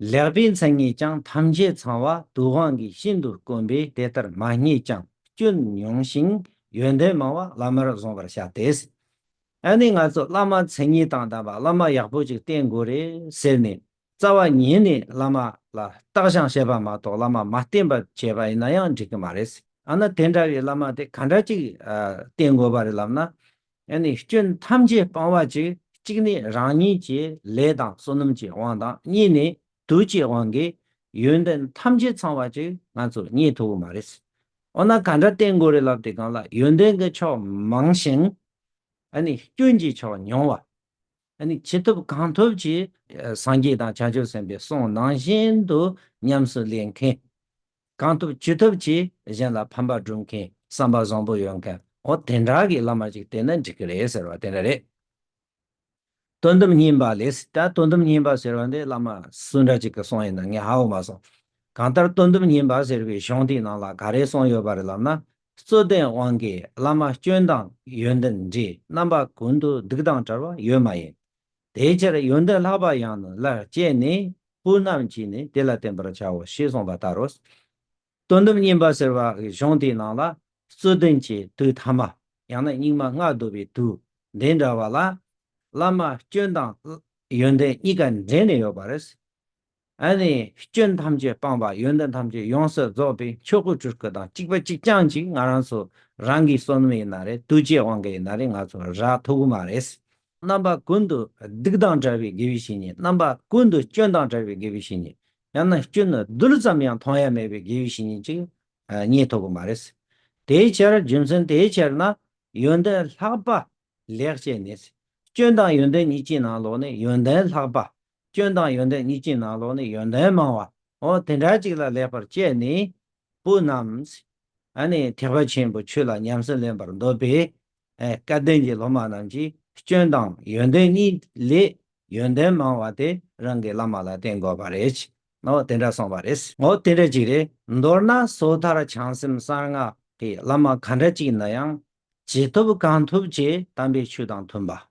ལེགས་པའི་མཚན་ཉིད་ཀྱང་ཐམས་ཅད་ཚང་བ་དུག་དབང་གིས་ཤིན་ཏུ་དཀོན་པས་དེ་ལྟར་མ་རྙེད་ཀྱང་སྐྱོན་ཉུང་ཞིང་ཡོན་ཏན་མང་བ་བླ་མར་བཟུང་བར་བྱ་སྟེ། ཨ་ནི་ང་ཚོ་བླ་མ་མཚན་ཉིད་དང་ལྡན་པ་བླ་མ་ཡག་པོ་ཅིག་བསྟེན་དགོས་རེད་ཟེར་ནས་རྩ་བ་ཉིད་ནས་བླ་མ་ལ་བརྟག་བྱང་བྱེད་པ་མ་གཏོགས་བླ་མ་མ་བསྟེན་པར་བྱས་པ་ཡིན་ན་ཡང་འགྲིག་གི་མ་རེད། ཨ་ན་དེ་འདྲ་བའི་བླ་མ་དེ་ག་འདྲ་ཅིག་བསྟེན་དགོས་པ་རེད་ལབ་ན། ཡང་ནི་སྐྱོན་ཐམས་ཅད་སྤང་བ་ཅི། གཅིག་ནི་རང་ཉིད་ཀྱི་ལས་དང་བསོད་ནམས་ཀྱི་དབང་དང་གཉིས་ནི་དུས་ཀྱི་དབང་གིས་ཡོན་ཏན་ཐམས་ཅད་ཚང་བ་ཅི་ང་ཚོ་རྙེད་ཐུབ་པོ་མ་རེད། འོ་ན་ག་འདྲ་བསྟེན་དགོས་རེད་ལབ་དེ་གང་ལ་ཡོན་ཏན་གྱི་ཕྱོགས་མང་ཞིང། ཡང་ནི་སྐྱོན་གྱི་ཕྱོགས་ཉུང་བ། ཅི་ཐུབ་གང་ཐུབ་ཀྱིས། སངས་རྒྱས་དང་བྱང་ཆུབ་སེམས་དཔའི་གསུང་ནང་བཞིན་དུ་ཉམས་སུ་ལེན་མཁན། གང་ཐུབ་ཅི་ཐུབ་ཀྱིས་གཞན་ལ་ཕན་པ་བསྒྲུབ་མཁན་བསམ་པ་བཟང་པོ་ཡོད་མཁན་ཨོ་དེ་འདྲ་གི་བླ་མ་ཅིག་བསྟེན་ན་འགྲིག་གི་རེད་ཟེར་བ་དེ་འདྲ་རེད། དོན་དམ་ཉིན་པ་ལས་ད་དོན་དམ་ཉིན་པ་ཟེར་བ་འདི་བླ་མ་སུ་འདྲ་ཅིག་གི་གསུང་ཡིན་ན་ངས་ཧ་གོ་མ་སོང། གང་ལྟར་དོན་དམ་ཉིན་པ་ཟེར་བའི་གཞུང་དེའི་ནང་ལ་ག་རེ་གསུངས་ཡོད་པ་རེད་ལབ་ན་རྩོད་ལྡན་དབང་གིས་བླ་མ་སྐྱོན་དང་ཡོན་ཏན་འདྲིས་རྣམ་པ་ཀུན་ཏུ་སྡིག་དང་བྲལ་བ་ཡོད་མ་ཡིན། དེའི་ཕྱིར་ཡོན་ཏན་ལྷག་པ་ཡང་ནི་སླར་སྐྱེས་ནས་སྤུན་རྣམས་ཀྱིས་ནི་དེ་ལ་བསྟེན་པར་བྱའོ་ཞེས་གསུངས་པ་ལྟར་རོ། དོན་དུ་བསྙེན་པ་ཟེར་བའི་གཞུང་དེའི་ནང་ལ་རྩོད་ལྡན་གྱི་དུས་ཐ་མ་ཡང་ན་སྙིགས་མ་ལྔ་བདོ་བའི་དུས་འདི་འདྲ་བ་ལ་བླ་མ་སྐྱོན་དང་ཡོན་ཏན་གཉིས་ཀ་འདྲེས་ནས་ཡོད་པ་རེད། ཨ་ནི་སྐྱོན་ཐམས་ཅད་སྤངས་པ་ཡོན་ཏན་ཐམས་ཅད་ཡོངས་སུ་རྫོགས་པའི་ཆོས་སྐུ་སྤྲུལ་སྐུ་དང་གཅིག་པ་གཅིག་རྐྱང་གཅིག་ང་རང་ཚོ་རང་གི་བསོད་ནམས་ཡིན་ན་རེད་གདུལ་བྱའི་དབང་གི་ཡིན་ན་རེད་ང་ཚོ་ར་ཐུག་གི་མ་རེད། རྣམ་པ་ཀུན་ཏུ་སྡིག་དང་བྲལ་བའི་དགེ་བའི་བཤེས་གཉེན་རྣམ་པ་ཀུན་ཏུ་སྐྱོན་དང་བྲལ་བའི་དགེ་བའི་བཤེས་གཉེན་ཡང་ན་སྐྱོན་རྡུལ་ཙམ་ཡང་མཐོང་ཡ་མེད་པའི་དགེ་བའི་བཤེས་གཉེན་གཅིག་རྙེད་ཐུབ་གི་མ་རེད། དེའི་ཕྱིར་རྒྱུ་མཚན་དེའི་ཕྱིར་ན་ཡོན་ཏན་ལྷག་པ་ལེགས་སྐྱེས་ནི། སྐྱོན་དང་ཡོན་ཏན་གཉིས་ཀྱི་ནང་ལོགས་ནས་ཡོན་ཏན་ལྷག་པ་སྐྱོན་དང་ཡོན་ཏན་གཉིས་ཀྱི་ནང་ལོགས་ནི་ཡོན་ཏན་མང་བའོ། དེ་འདྲ་གཅིག་ལ་ལེགས་པར་སྤྱད་ནས། སྤུ་རྣམས། ཐེག་པ་ཆེན་པོ་ཆོས་ལ་ཉམས་སུ་ལེན་པར་འདོད་པའི། སྐལ་ལྡན་གྱི་སློབ་མ་རྣམས་ཀྱིས་སྐྱོན་དང་ཡོན་ཏན་གཉིས་ལས་ཡོན་ཏན་མང་བ་དེ་རང་གི་བླ་མ་ལ་བསྟེན་དགོས་པ་རེད། དེ་འདྲ་གསུངས་པ་རེད། དེ་འདྲ་གཅིག་རེད། མདོར་ན་སོ་ཐར་བྱང་སེམས་གསང་སྔགས་ཀྱི་བླ་མ་གང་འདྲ་གཅིག་ན་ཡང། ཇི་ཐུབ་གང་ཐུབ་ཀྱིས་དམ་པའི་ཆོས་དང་མཐུན་པ།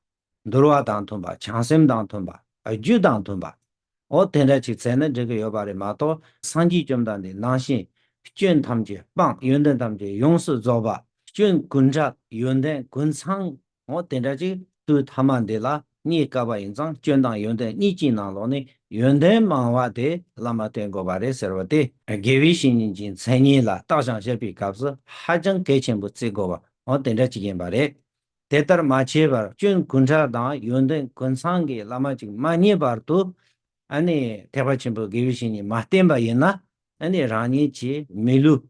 འདོར་བ་དང་མཐུན་པ་བྱང་སེམས་དང་མཐུན་པ་རྒྱུད་དང་མཐུན་པའོ། དེ་འདྲ་ཅིག་བཙལ་ན་འགྲིག་གི་ཡོད་པ་རེད་མ་གཏོགས་སངས་རྒྱས་བཅོམ་ལྡན་འདས་སྣང་ཞིང་སྐྱོན་ཐམས་ཅད་སྤངས་ཡོན་ཏན་ཐམས་ཅད་ཡོངས་སུ་རྫོགས་པ་སྐྱོན་ཀུན་བྲལ་ཡོན་ཏན་ཀུན་ཚང་ངོ། དེ་འདྲ་ཅིག་དུས་ཐ་མ་འདི་ལ་རྙེད་དཀའ་བ་ཡིན་ཙང་སྐྱོན་དང་ཡོན་ཏན་གཉིས་ཀྱི་ནང་ལོགས་ནས་ཡོན་ཏན་མང་བ་དེ་བླ་མ་སྟོན་དགོས་པ་རེད་ཟེར་བ་དེ། དགེ་བའི་བཤེས་གཉེན་གྱི་མཚན་ཉིད་ལ་བརྟག་བྱང་བཤད་པའི་སྐབས་སུ་ཧ་ཅང་གལ་ཆེན་པོ་བརྩི་དགོས་པའོ་དེ་འདྲ་ཅིག་ཡིན་པ་རེད། དེ་ལྟར་མ་བྱས་པར་སྐྱོན་དགུན་ཁྲག་དང་ཡོན་ཏན་དགུན་ཚང་གི་བླ་མ་ཅིག་མ་རྙེད་བར་དུ་ཐེག་པ་ཆེན་པོའི་དགེ་བའི་བཤེས་གཉེན་མ་བསྟེན་པ་ཡིན་ན་རང་ཉིད་ཀྱི་མི་ལུས་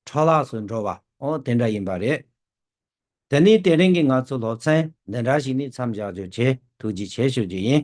འཕྲོ་བརླགས་སུ་འགྲོ་བ་དེ་འདྲ་ཡིན་པ་རེད། དེ་ནི་དེ་རིང་གི་ང་ཚོའི་སློབ་ཚན་འདི་འདྲ་ཞིག་ནི་མཚམས་བཞག་རྗོད་བྱེད་ཐུགས་རྗེ་ཆེ་ཞུ་རྒྱུ་ཡིན།